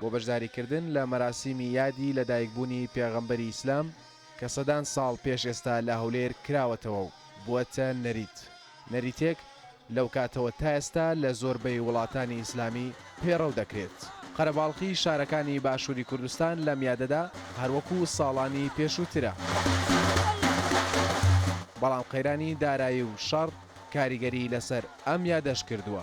بۆ بەشداریکردن لە مەراسیمی یادی لەدایکبوونی پێغەمبەری ئیسلام کە سەدان ساڵ پێش ئێستا لە هەولێر کراوەتەوە و بووەتە نەریت نەریتێک لەوکاتەوە تا ئێستا لە زۆربەی وڵاتانی ئیسلامی پەیڕەو دەکرێت. قەرەباڵخی شارەکانی باشووری کوردستان لەم یادەدا هەروەکو ساڵانی پێشووترە، بەڵام قەیرانی دارایی و شەڕ کاریگەری لەسەر ئەم یادەش کردووە.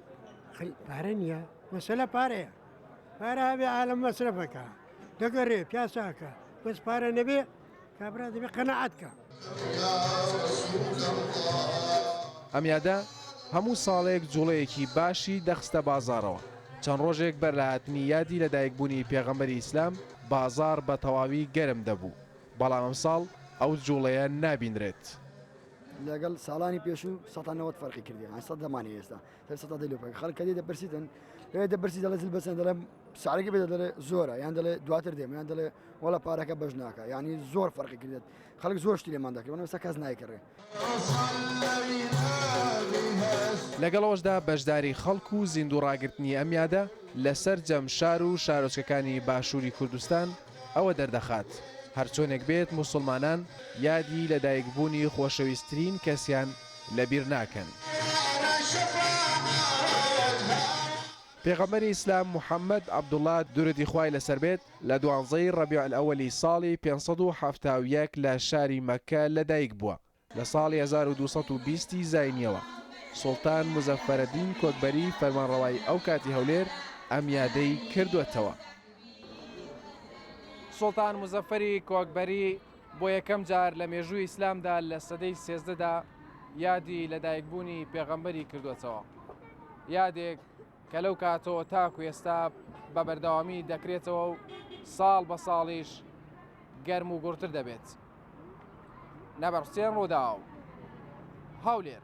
پارە نییە مەسەلە پارەیە پارە هەبێ عالم مەسرەفەکە دەگەڕێ پیاساکە بەس پارە نەبێ کابرا دەبێ قەنەعاتکە. ئەم یادە هەموو ساڵێک جوڵەیەکی باشی دەخستە بازارەوە چەند ڕۆژێک بەر لە هاتنی یادی لە دایکبوونی پێغەمبەری ئیسلام بازار بە تەواوی گەرم دەبوو بەڵام ئەمساڵ ئەو جوڵەیە نابینرێت. لەگەڵ ساڵانی پێشوو سەتا نەوەت فەرقی کردی ئەمە سەد دەمانێ ئێستا تر سەتا دەی لۆپەکە خەڵک کە دێ دەپرسیتن لێ دەپرسی دەڵێ زل بەسەن دەڵێ ساعەکە بێت دەڵێ زۆرە یان دەڵێ دواتر دێم یان دەڵێ وەڵە پارەکە بەش ناکە یعنی زۆر فەرقی کردێت خەڵک زۆر شتی لێمان دەکردن ئێستا کەس نایکڕێ لەگەڵەوەشدا بەشداری خەڵک و زیندوو ڕاگرتنی ئەم یادە لە سەرجەم شار و شارۆچکەکانی باشووری کوردستان ئەوە دەردەخات هەرچۆنێک بێت موسڵمانان یادی لەدایکبوونی خۆشەویسترین کەسیان لەبیر ناکەن. پێغەمبەری ئیسلام محەمەد عەبدوڵا دورودی خوای لەسەر بێت لە دوانزەی ڕەبیع ئەلئەوەلی ساڵی پێنج سەد و حەفتا و یەک لە شاری مەککە لەدایکبووە، لە ساڵی هەزار و دوو سەد و بیست ی زاینییەوە، سوڵتان موزەفەرەدین کۆکبەری فەرمانڕەوای ئەو کاتی هەولێر ئەم یادەی کردووەتەوە. سوڵتان موزەفەری کۆکبەری بۆ یەکەم جار لە مێژووی ئیسلامدا لە سەدەی سێزدەدا یادی لەدایکبوونی پێغەمبەری کردووەتەوە. یادێک. کە لەو کاتەوە تاکو ئێستا بە بەردەوامی دەکرێتەوە و ساڵ بە ساڵیش گەرم و گوڕتر دەبێت. نەبەڕ حوسێن، رووداو، هەولێر.